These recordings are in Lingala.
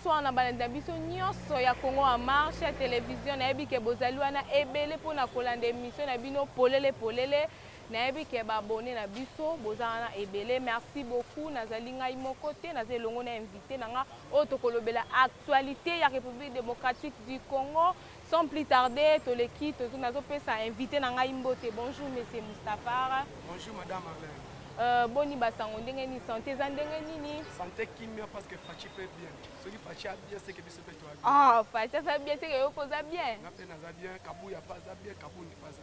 bonsoir na balandi na biso nyonso ya congo en marche ya televizio nayebi ke bozali wana ebele mpo na kolanda emission na bino polele polele nayebi ke baabone na biso boza wana ebele merci beaucoup nazali ngai moko te naza elongo na invité na nga oyo tokolobela actualité ya république démocratique du congo Sans plus tarder, toleki tozo nazo pesa invité na ngai mbote. Bonjour monsieur Mustafara. Bonjour madame Arlène. Euh, boni basango ndenge nini sante eza ndenge nini sante kimia parce que faci pe bien soki faci a bien seke biso pe toa bien ah faci aza bien seke yo mpe oza bien nga mpe naza bien kabuya mpe aza bien kabundi mpe aza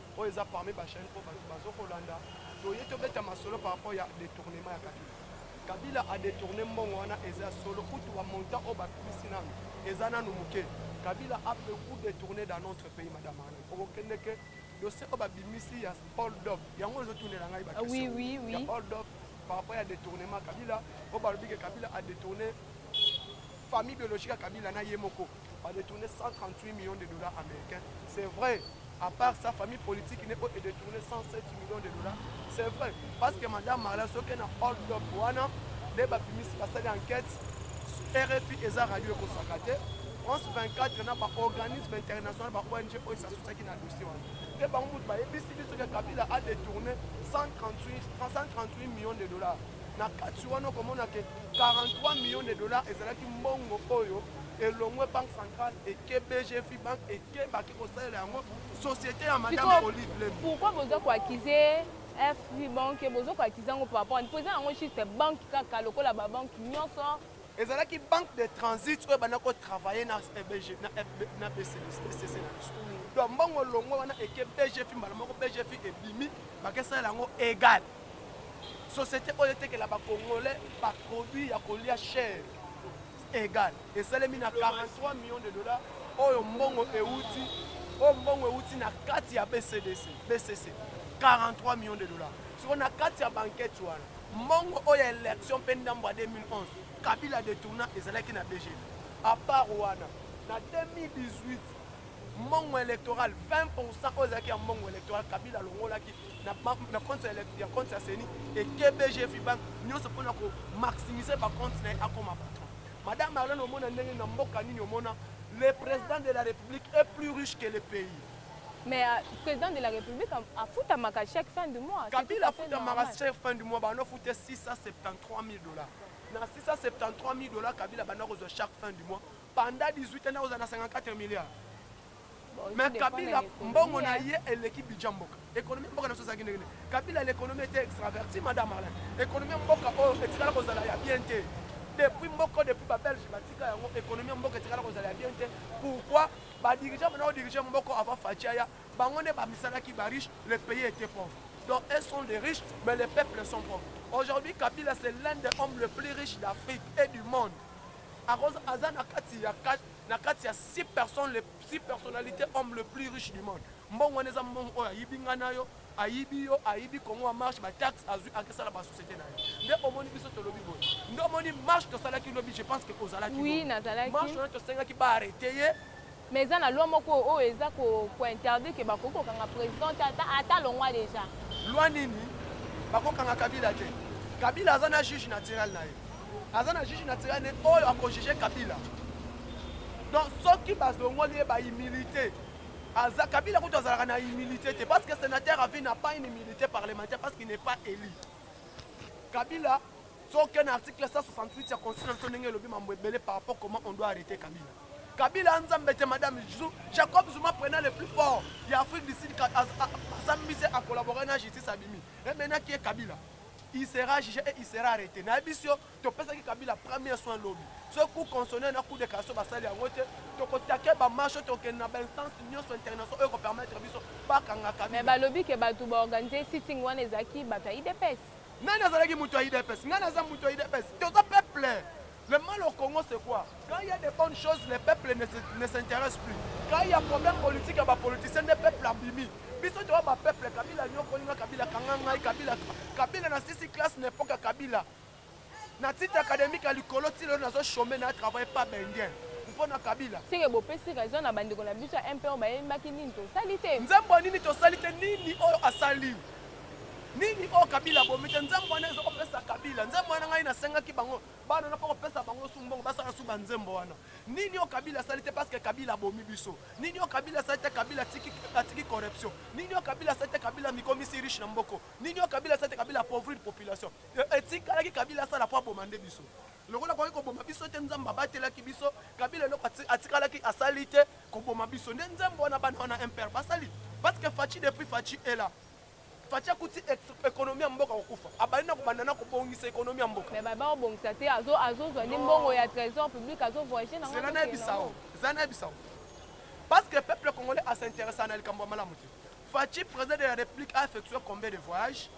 oyo eza parmi ba chaîne oyo bato bazokolanda toye tobeta masolo par rapport ya détournement ya kabila kabila adetourne mbongo wana eza ya solo kutu bamontant oyo bakubisi nano eza nano moke kabila a beaucoup détourne dans notre pays madame ana okokende ke dossier oyo babimisi ya hold up yango ezotunela ngai ah oui, oui, oui. ya hold up par rapport ya détournement kabila oyo balobi ke kabila adetourne famille biologique ya kabila na ye moko ba détourner 138 millions de dollars américains c'est vrai à part sa famille politique ne oyo edetourne 107 millions de dollars c'est vrai parce que madame marla soki na hold up wana nde bapimisi basali enquête rfi eza radio ekosaka te france 24 na baorganisme international ba ong oyo esasutaki na dossier wana mpe bango moto bayebisi biso ke kabila adetourne 138 millions de dollars na kati wana okomona ke 43 millions de dollars ezalaki mbongo oyo elongwe banque centrale eke bgfi banque eke baki kosalela yango société ya madame olive lem pourquoi boza koakize fb banque boza koakize yango par rapport mpo eza yango juste banque kaka lokola babanque nyonso ezalaki banque de transit oyo ebanda kotravaille na bcc na biso donc mbongo olongwe wana eke bgfi mbala moko bgfi ebimi bakesalela yango égal société oyo etekela bacongolais baproduit ya kolia chere egal esalemi na 43 millions de dollars oyo mbongo euti oyo mbongo euti na kati ya bcdc bcc 43 millions de dollars siko na kati ya bankete wana mbongo oyo ya election mpe ndambo ya 2011 kabila detourna ezalaki na bgv apart wana na 2018 mbongo electoral 20 pourcent oyo ezalaki ya mbongo electoral kabila alongolaki na compte ya compte ya seni e kbg fibank nyonso mpo na komaximise bacompte na ye akoma patron madame arlene omona ndenge na mboka nini omona le président de la république est plus riche que le pays mais euh, président de la république afutamaka chaque fin du mois kabila afutamaka chaque fin du mois bando afute 673 000 dollars na 673 000 dollars kabila banda kozwa chaque fin du mois Pendant 18 ans nakozala na 54 milliards. Mais Kabila mbongo na ye eleki budget mboka. Économie mboka na sosa kinde kinde. Kabila l'économie était extraverti madame Alain. Économie mboka oyo oh, etikala kozala ya bien te. Depuis mboka depuis ba Belge batika yango économie mboka etikala kozala ya bien te. Pourquoi ba dirigeants maintenant diriger mboka avant Fatiaya bango ne bamisalaki ba riche le pays était pauvre. Donc elles sont des riches mais les peuples sont pauvres. Aujourd'hui Kabila c'est l'un des hommes les plus riches d'Afrique et du monde. Akoza aza na kati ya na kati ya six personnes les six personnalités hommes le plus riche du monde mbongo wana eza mbongo oyo ayibi ngai na yo ayibi yo ayibi kongo ya marche bataxe azwi akesala basociété na ye nde omoni biso tolobi boye nde omoni marche tosalaki lobi je pense ke ozalaki marche wana tosengaki baarrete ye Mais eza na loi moko oyo eza ko ko interdire que bakoki kokanga president te ata ata longwa deja. Loi nini? Bakokanga Kabila te. Kabila aza na juge naturel na ye. Aza na juge naturel ne oyo akojuge Kabila. Donc soki bazongoli ye ba humilité aza Kabila kutu azalaka na humilité te parce que sénateur à vie n'a pas une humilité parlementaire parce qu'il n'est pas élu. Kabila Soki na article 168 ya constitution na biso ndenge elobi mambo ebele par rapport comment on doit arrêter Kabila. Kabila nzambe te madame Jacob Zuma prenant le plus fort ya Afrique du Sud asambisi se a collaborer na justice abimi. Et maintenant qui est Kabila? Il sera jugé et il sera arrêté. Na biso topesaki Kabila premier soin lobi. Ce coup constitutionnel na coup de cassation basali yango te tokotake bamarche tokende na bainstance nyonso international oyo ekopermettre biso bakanga Kabila. Mais balobi ke bato baorganize sitting wana ezalaki bato ya idps. Nani azalaki moto ya UDPS? Ngai naza moto ya UDPS. Toza peuple. Le mal au Congo, c'est quoi Quand il y a des bonnes choses, les peuples ne s'intéressent plus. Quand il y a problème politique, il y a politiciens, les peuples abîmés. biso toa bapeuple kabila nyokoli nga kabila kanga ngai kabila kabila na sisi classe na epoka kabila na titre académique ya likolo ti lelo nazo chome na travaille pas bendien mpo na kabila seke bopesi raison na bandeko na biso ya mpo bayembaki nini tosali te nzembo nini tosali te nini oyo asali nini oyo kabila abomi te nzembo wana eza kopesa kabila nzembo wana ngai nasengaki bango bana na mpo kopesa bango su mbongo basala su banzembo wana nini oyo kabila asali te parce que kabila abomi biso nini oyo kabila asali te kabila atiki corruption nini oyo kabila asali te kabila mikomisi riche na mboko nini oyo kabila asali te kabila apauvrir population e, etikalaki kabila asala mpo aboma nde biso lokola akoki koboma biso te nzambe abatelaki biso kabila eloko atikalaki asali te koboma biso nde nzembo wana bana wana impere basali parce que faci depuis faci ela Fatshi akuti ekonomi ya mboka kokufa. Abandi na kobanda na kobongisa ekonomi ya mboka. Mais baba obongisa te azo azo zwa ni mbongo ya trésor public azo voyager na ngana. Zela na bisao. Zela na bisao. Parce que peuple congolais a s'intéresse na likambo malamu te. Fatshi président de la République a effectué combien de voyages?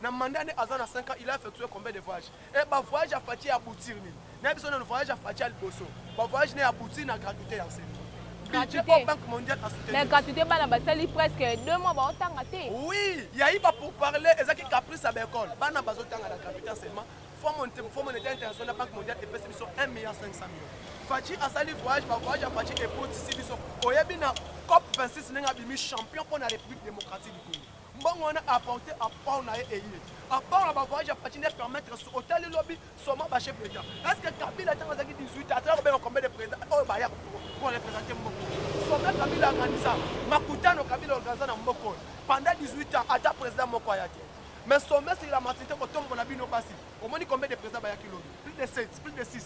Na mandat ne aza na 5 ans, il a effectué combien de voyages? Eh, ba voyage ya Fatshi ya aboutir nini? Na biso na voyage ya Fatshi ya liboso. Ba voyage na ya aboutir na gratuité ya enseignement. Gratuité. Banque mondiale a soutenu. Mais gratuité bana basali presque 2 mois baotanga te. Oui, ya iba pour parler ezaki caprice ya l'école. Bana bazotanga na gratuité enseignement. Fonds monétaire international na Banque mondiale epesi biso 1 milliard 500 millions. Fatshi asali voyage, ba voyage ya Fatshi epotisi biso. Oyebi na COP 26 ndenge abimi champion mpo na République démocratique du Congo. mbongo wana apporte apport na ye eye apport na bavoyage ya fatine permettre so otali lobi soma bache président est ce que kabila ntango azalaki 18 ans azalaki kobenga combien de président oyo oh, baya mpo représente mboko soma kabila organisa makutano kabila organisa na mboko oyo pendant 18 ans ata président moko aya te mais sommet c'est la maturité kotombola bino basi omoni combien de président bayaki lobi plus de 7 plus de 6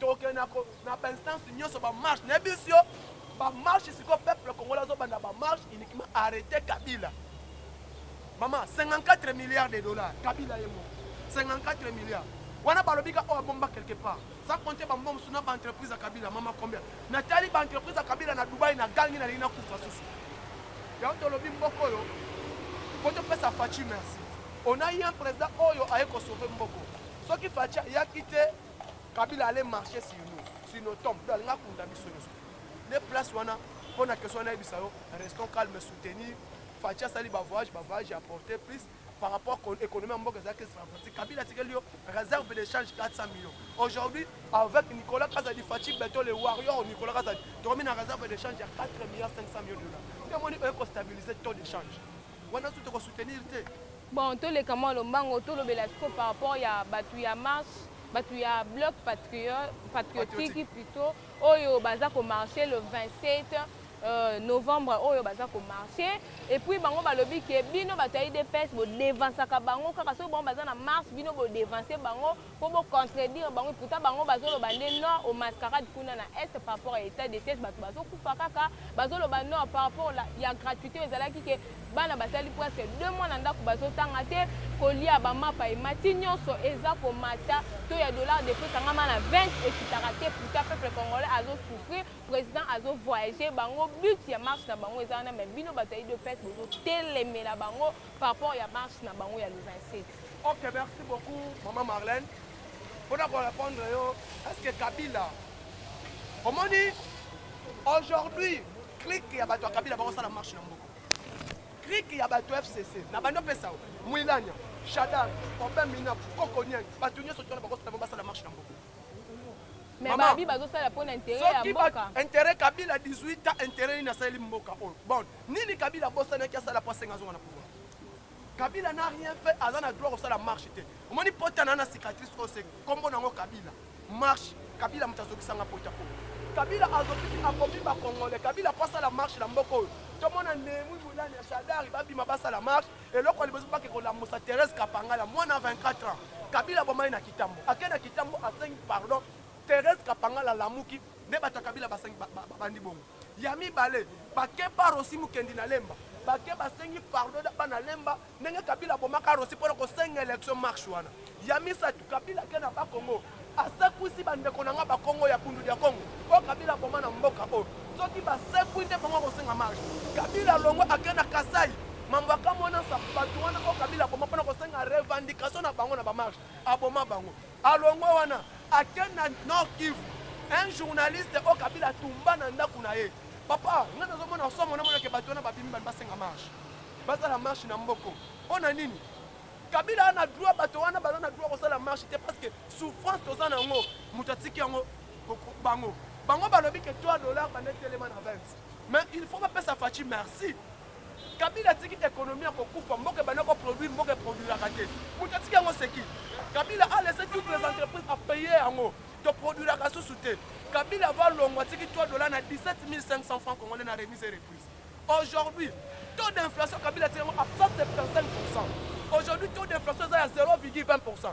Toke na ko na ba instance nyoso ba marche na bisio ba marche siko peuple congolais zo banda ba marche uniquement arrêter Kabila. Maman 54 milliards de dollars Kabila yemo 54 milliards wana balobi ka oyo oh, abomba quelque part sans compter bambongo mosusu na baentreprise ya kabila mama combien natali baentreprise ya kabila na dubai na gangi nalingi nakufa susu yango tolobi mboko oyo po topesa faci merci on a eu un président oyo aye kosauve mboko soki faci ayaki te Kabila allait marcher sur nous, sur nos tombes. Donc, alinga kunda biso nyoso. Ne place wana mpo na question na yebisa yo, restons calme, soutenir. Fatshi asali ba voyage, ba voyage apporter plus par rapport à l'économie en mboka ezalaki stratégique. Kabila atikeli yo réserve d'échange 400 millions. Aujourd'hui, avec Nicolas Kazadi, Fatshi Beto, les Warriors, Nicolas Kazadi, tokomi na réserve d'échange ya 4 milliards 500 millions de dollars. Nde moni oye kostabilise taux d'échange. Wana tu tokosoutenir te. Bon, toleka mwa lombango, tolobela siko par rapport ya bato ya marche, bato ya bloc patriotique plutôt, oyo baza ko marcher le 27 euh, novembre oyo baza ko marcher et puis bango balobi ke bino bato ya idps bodevansaka bango kaka soki bango baza na marche bino bodevanse bango po bo contredire bango pourtant bango bazoloba nde non au mascarade kuna na est par rapport ya état de siège bato bazokufa kaka bazoloba non par rapport ya gratuité oyo ezalaki ke bana basali presque deux mois na ndako bazotanga te kolia bamapa emati nyonso eza komata to ya dollar de prix kangama na 20 ekitaka te pourtant peuple congolais azosouffrir président azovoyage bango but ya marche na bango eza wana mais bino bato ya idps bozotelemela bango par rapport ya marche na bango ya le 27 Ok, merci beaucoup, maman Marlène. Pour répondre, est-ce que Kabila, au moins aujourd'hui, clique ya bato ya Kabila bakosala marche na mboka. Clique ya bato FCC, na bando pesa o, Mwilanya, Shadar, Obin Mina, Koko Niang, bato nyoso tona bakosala bango basala marche na mboka. Mais babi bazosala mpo na intérêt ya mboka. Intérêt Kabila 18 ans, intérêt nini asaleli mboka oyo. Bon, nini Kabila abosanaki asala mpo asenga azonga na pouvoir? Kabila n'a rien fait, aza na droit kosala marche te. Omoni pota na na cicatrice oyo se kombo nango Kabila. Marche Kabila moto azokisanga pota po. Kabila azokisi akomi ba Congolais. Kabila po asala marche na mboka oyo. Tomona Nehemou Mulani ya Shadari babima basala marche. Eloko liboso bake kolamusa Thérèse Kapangala mwana 24 ans. Kabila bomai na Kitambo. Ake na Kitambo asengi pardon. Thérèse Kapangala lamuki nde bato ya Kabila basengi babandi bongo. Ya mibale, bakeba Rossy Mukendi na Lemba. Bake basengi pardon na bana Lemba ndenge Kabila abomaka Rossy mpo na kosenga election marche wana. Ya misato, Kabila ake na Bakongo asekwisi bandeko na nga Bakongo ya Bundu dia Kongo mpo Kabila aboma na mboka oyo. Soki basekwi nde bango akosenga marche. Kabila alongwe ake na Kasai mambo akamwana sa bato wana oyo Kabila aboma mpo na kosenga revendication na bango na bamarche aboma bango. Alongwa wana akende na Nord Kivu. Un journaliste oyo Kabila atumba na ndako na ye. Papa, ngai nazomona somo namona ke bato wana babimi bani basenga marche. Basala marche na mboko. Mpo na nini? Kabila ana droit bato wana baza na droit kosala marche te parce que souffrance toza na yango moto atiki yango bango. Bango balobi ke 3 dollars banda etelema na 20. Mais il faut bapesa Fatshi merci. Kabila atiki economie ya kokufa mboka ebanda ko produire mboka eproduiraka te moto atiki yango seki Kabila a laisse toutes les entreprises a paye yango toproduiraka susu te Kabila va longwa atiki 3 dollars na 17 500 francs congolais na remise et reprise aujourd'hui taux d'inflation Kabila atiki yango à 175 aujourd'hui taux d'inflation eza ya 0,20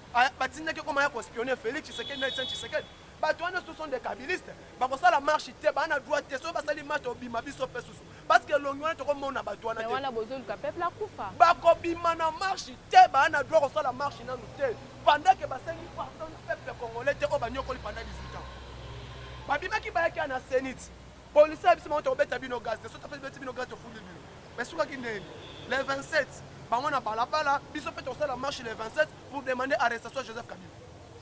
Ah, batindaki ekoma ya kospionne félix tshisekedi na etienne tshisekedi bato wana ce sont des kabiliste bakosala marche te baa na droit te soki basali marche obima biso mpe susu parce que elongi wana tokomona bato wana te bakobima na marche te baa na droit kosala marche nanu te pendant ke basengi pardon na peuple congolais te oyo banyokoli pendant 18 ans babimaki bayaki ya na senit policier ya biso bango tokobeta bino gaz te soki topesi beti bino gaz tofuli bino Mais sukaki ndenge le 27 bango na balabala biso mpe tosala marche le 27 pour demander arrestation Joseph Kabila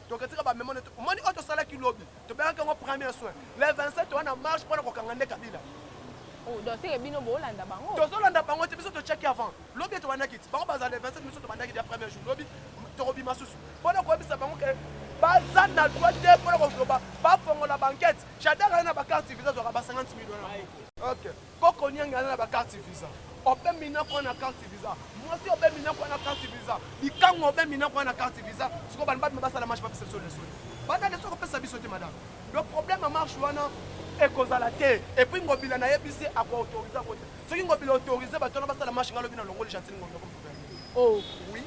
toketika bamema nde omoni oyo tosalaki lobi tobengaki yango premier soin le 27 wana marche mpo na kokanga nde Kabila oh, tozolanda bango te biso tocheki avant lobi ete wanaki ti bango bazala le 27 biso tobandaki dia premier jour lobi tokobima susu mpo na koyebisa bango ke baza na droit te mpo na koloba bafongola bankete chadaka ye na bacarte visa azwaka ba 50 million ok Koko niangi aza na ba carte visa. Obe mina kwa na carte visa. Mwasi obe mina kwa na carte visa. Likango obe mina kwa na carte visa. Siko bana batu basala marche papisa biso leso. Bana leso kopesa biso te madame. Le problème ya marche wana ekozala te. Et puis ngobila na yebisi ako autoriser ko. Soki ngobila autoriser bato wana basala marche ngalobi na longo le gentil ngobila. Oh oui.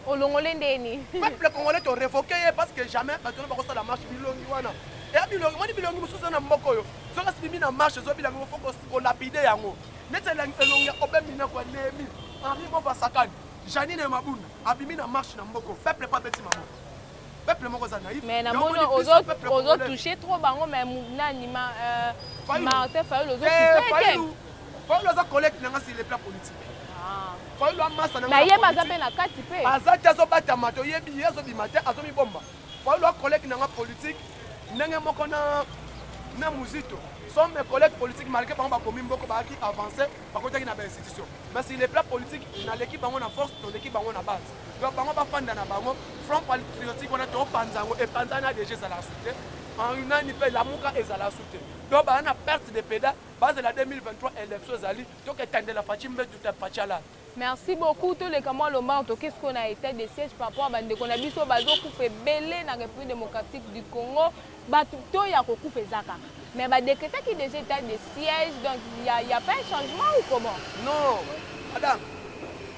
Olongole ndeni. Peuple congolais to revoquer ye parce que jamais parce que bako sala marche bilongi wana. Ya bilongi moni bilongi mususu na mboko yo. Soka sibimi na marche zo bilongi faut ko ko lapider yango. Nete la elongi ya obemi na kwa nemi. Henri Mova Sakani. Janine Mabunda abimi na marche na mboko. Peuple pas petit maman. peuple moko za naïf mais na moni ozo ozo toucher trop bango mais nani ma euh, Martin Fayulu ozo eh, toucher Fayulu aza collègue na nga sur le plan politique ah. Fayulu amasa na nga ye baza pe na kati pe aza te azo bata mato yebi ye azo bima te azo mibomba Fayulu a collègue na nga politique ndenge moko na na muzito sont mes collègues politiques malgré bango bakomi mboko bayaki avance bakotaki na bainstitution mais sur le plan politique naleki bango na force toleki bango na base donc bango bafanda na bango front patriotique wana topanza yango epanzani ya deja ezala su te nani mpe lamuka ezala su te donc baa na perte de peda bazela 2023 élection ezali toketandela faci mbetu te faci alala merci beaucoup toleka mwa lombango toke sikoyo na état de siège par rapport ya bandeko na biso bazokufa ebele na république démocratique du congo Batu to ya ko kufa eza kaka. Mais ba decretaki dejà etat de siège donc il y a, il y a pas un changement ou comment? Non madame,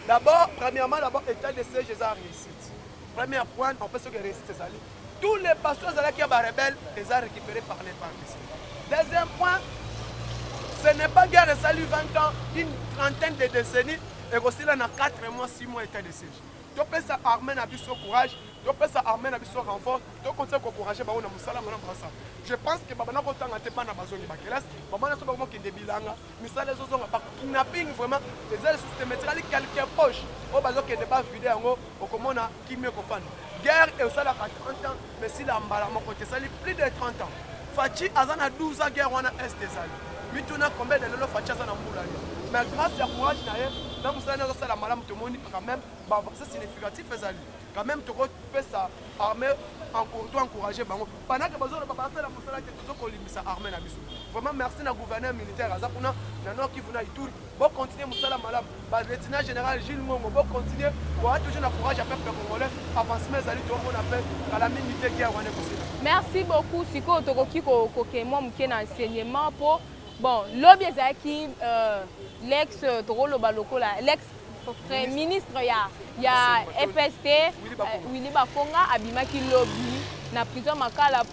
d'abord premièrement d'abord etat de siège eza réussite. Première point en fait ce que réussite ezali tous les pasteurs ezalaki ya ba rebelles eza récupéré par les partis. Deuxième point, ce n'est pas guerre esali 20 ans, une trentaine de décennies ekosila na 4 mois 6 mois etat de siège. topesa armée na biso courage topesa armée na biso renfort tokontinue kocourage bango na mosala mona brasa je pense que babanda kotanga te bana bazongi bakelasi bamana so bango mokende bilanga misala ezozonga bakidnapping vraiment eza lisusu te metikali quelque poche oyo bazokende bavide yango okomona kimia ekofanda guerre esalaka mais sila mbala moko te ezali plus de 30 ans faci aza na 12 ans guerre wana est ezali mituna combien de lelo faci aza na mbula yo mais grâce ya courage na ye na mosala nde azosala malamu tomoni quand même bavaccin significatif ezali quand même tokopesa armée to encourage bango panake bazoloba basala mosala te tozokolimbisa armée na biso vraiment merci na gouverneur militaire aza kuna na nord kivu na ituri Bon continuer musala malamu. Ba lieutenant général Jules Mongo bon continuer. Bon toujours na courage à peuple congolais. Avancement ezali to mona pe kala mingi te guerre wana ekosila. Merci beaucoup. Sikoyo tokoki ko koke mwa moke na enseignement po bon lobi ezalaki euh, l'ex euh, tokoloba lokola l'ex ministre ya ya FST Willy euh, Bakonga abimaki lobi na prison makala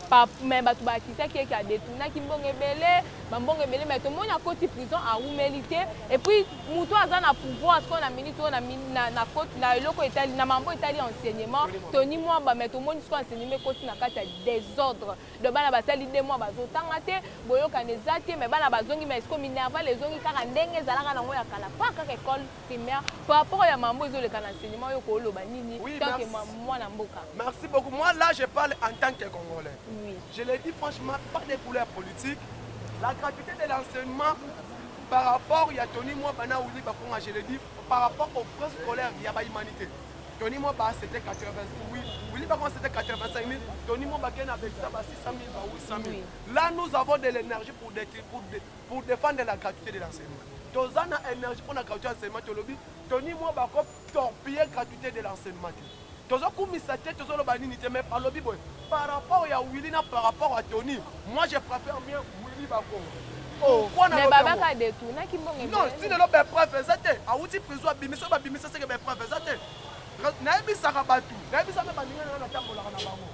mais bato bakisaki eke adetunaki mbongo ebele ba mbongo ebele mais tomoni akoti prison awumeli te et puis moto aza na pouvoir sikoyo na minute oyo na eloko etali na mambo etali enseignement toni mwamba mais tomoni sikoyo enseignement ekoti na kati ya désordre de bana basali de mwa bazotanga te boyokani eza te mais bana bazongi mais sikoyo minerval ezongi kaka ndenge ezalaka nango ya kala pa kaka ekole primaire par rapport ya mambo ezoleka na enseignement yo kooloba nini oui, tant que mwana mboka merci beaucoup moi là je parle en tant que congolais oui. je le dis franchement pas de couleur politique la gratuité de l'enseignement par rapport ya tony mwa bana uli bakonga je le dis par rapport aux frais scolaires ya bahumanité tony mwa ba c'était 80 oui uli bakonga c'était 85 000 tony mwa bakei na belisa ba 600 000 ba 800 000 là nous avons de l'énergie pour, pour, pour defendre la gratuité de l'enseignement toza na énergie mpo na gratuité ya enseignement tolobi toni mwa bako torpiller gratuité de l'enseignement te tozokumisa te tozoloba nini te mais alobi boye par rapport ya willi na par rapport ya toni moi je préfère mieux willi bakongo babaka detunaki mbongenon ti lelo bapreuve eza te awuti prison abimisa oyo babimisa seke bapreuve eza te nayebisaka bato nayebisa mpe baninga nanga natambolaka na bango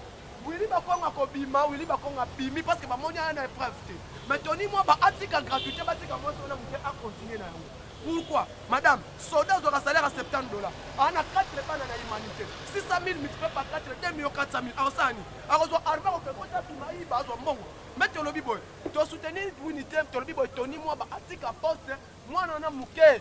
Willy bakongo akobima Willy bakongo abimi parce que bamoni aya na épreuve te mais toni mwaba atika gratuité batika mwasi wana moke acontinue na yango pourquoi madame soda azwaka salaire ya 70 dollars ana 4 bana na humanité 600 000 multiplie par 4 2 million 400 000 akosala nini akozwa arme akokekota abima ayiba azwa mbongo mbe tolobi boye tosoutenir unité tolobi boye toni mwaba atika poste Mwana wana muke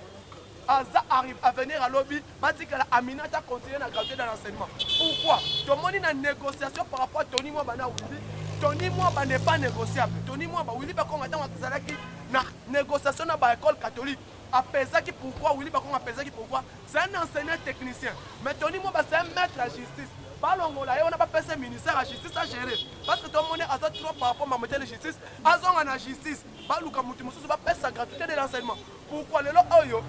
aza arrive à venir à lobby batikala aminata continuer na graduer dans l'enseignement pourquoi tomoni na négociation par rapport à tony mwaba na wili tony mwaba n'est pas négociable tony mwaba wili bakonga ntango azalaki na négociation na baécole catholique apesaki pourquoi wili bakonga apesaki pourquoi c'est un enseignant technicien mais tony mwaba c'est un maître à justice balongola ye wana bapesa ministère ya justice agere parce que tomoni aza trop par rapport mamotele justice azonga na justice baluka mutu mosusu bapesa gratuité de l'enseignement pourquoi lelo oyo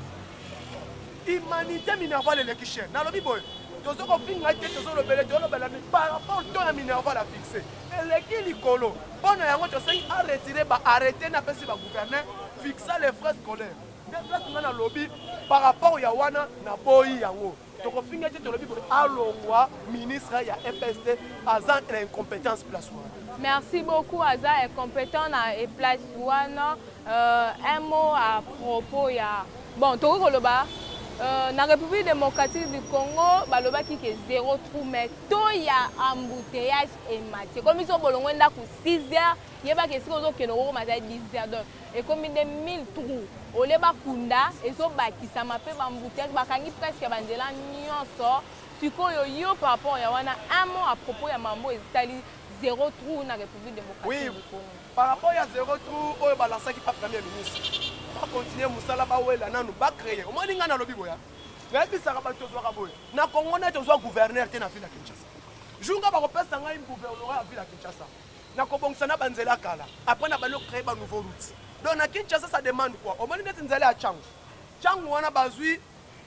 humanité minerval eleki cher nalobi boye tozo kofinga te tozolobele tolobela mi par rapport to ya minerval a fixe eleki likolo mpo na yango tosengi aretire baarrete na apesi bagouverneur fixa les frais scolaire nde place nga nalobi par rapport ya wana naboyi yango tokofinga te tolobi boye alongwa ministre ya epst aza na incompétence place wana merci beaucoup aza incompétent na place wana euh, un mot à propos ya bon tokoki koloba Euh, na république démocratique du congo balobaki ke zero trou mais to ya embouteillage emati ekomi so bolongo ndako 6 heures yebaka esika ozokende okokoma za 10 heures donc ekomi nde 1000 trou olie bakunda ezobakisama mpe bambuteage bakangi presque ya banzela nyonso sikoyo yo par rapport ya wana un mot à propos ya mambo etali zero trou na république démocratique du congo par rapport ya zero trou oyo balansaki pa premier ministre bakontinue mosala bawela nanu bacreye omoni ngai nalobi boya nayebisaka bato tozwaka boye na congo nde tozwa gouverneur te na ville ya kinshasa jour ngai bakopesa ngai gouverneur ya ville ya kinshasa na kobongisa na banzela ya kala après na bando créer ba nouveau route donc na Kinshasa ça demande quoi omoni neti nzela ya changu changu wana bazwi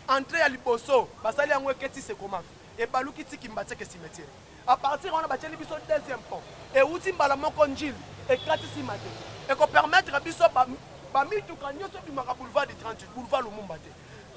entrée ya liboso basali yango eketi sekomafi ebaluki tiki mbatseke cimetière à partir wana batyeli biso deuxième pont euti mbala moko njili ekati nsima te ekopermettre biso bamituka nyonso ebimaka boulevard du 38 boulevard lumumba te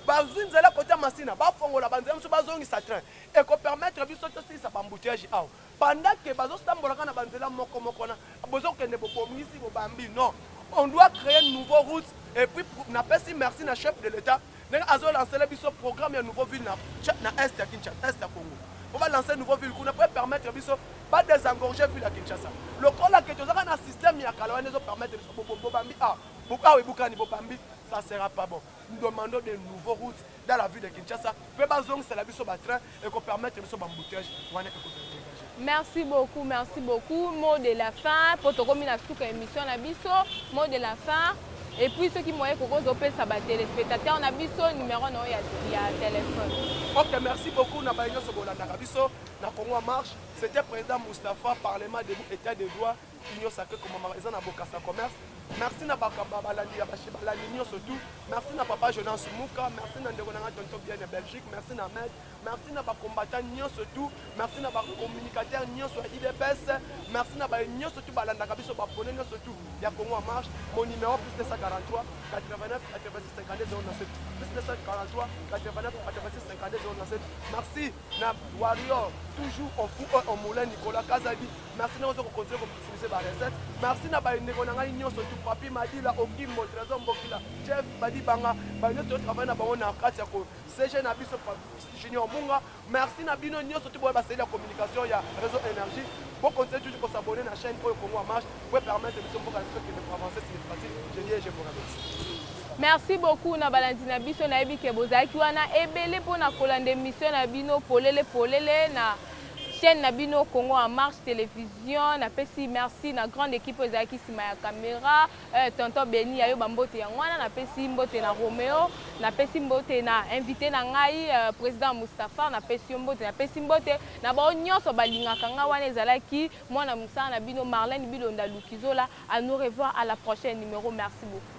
bazwi nzela kota masina bafongola banzela mosusu bazongisa train ekopermettre biso tosilisa bambuteyage awa Pendant que bazo sambolaka na ba nzela moko moko wana bozo kende bo bomisi bo bambi non on doit creer nouveau route et puis na pesi merci na chef de l'etat ndenge azo lancer biso programme ya nouveau ville na na est ya Kinshasa est ya Congo po ba lancer nouveau ville kuna po permettre biso ba désengorger ville ya Kinshasa lokola ke tozaka na système ya kala wana ezo permettre biso bo bambi ah bukawe bukani bo bambi ça sera pas bon nous demandons de nouveaux routes dans la ville de Kinshasa pe bazongisa la biso ba train et ko permettre biso ba embouteillage wana eko Merci beaucoup, merci beaucoup. Mot de la fin, pour te communiquer à toute émission na biso, mot de la fin. Et puis ceux qui m'ont écouté, je peux savoir téléspectateurs na biso numéro non ya ya téléphone. OK, merci beaucoup na bayo so bolanda biso na Congo marche. C'était président Mustapha, parlement debout état de droit. union sacré komama eza na bokasa commerce merci na balandi ya bashe balandi nyonso tout merci na papa jonas muka merci na ndeko na ngai tonto bien ya belgique merci na med merci na bacombattant nyonso tout merci na bacommunicateur nyonso ya idps merci na baye nyonso tout balandaka biso bapone nyonso tout ya congo en marche mon numéro plus 243 89 86 52 097 plus 243 89 86 52 097 merci na warrior toujours on fou on moulin nicolas kazadi Merci na ozo ko continuer ko utiliser ba recettes. Merci na ba ndeko na ngai nyoso tu papi Madila Okimbo Trésor Mbokila Chef Badi Banga ba nyoso to travailler na bango na kati ya ko CG na biso Junior Munga. Merci na bino nyoso tu boye ba seli ya communication ya réseau énergie. Bo continuer toujours ko s'abonner na chaîne oyo Congo en marche pour permettre biso mboka biso ki de avancer significatif. Je dis je vous remercie. merci beaucoup na balandi na biso nayebi ke bozalaki wana ebele mpo na kolanda emission na bino polele polele na chaine na bino Congo en marche television na pesi merci na grande équipe oyo ezalaki nsima ya camera euh, tonton Beni ayo ba mbote yango wana na pesi mbote na Romeo na pesi mbote na invité na ngai euh, président Mustapha na pesi yo mbote na pesi mbote na bao nyonso balingaka ngai wana ezalaki mwana mosala na bino Marlène Bilonda Lukizola à nous revoir à la prochaine numéro merci beaucoup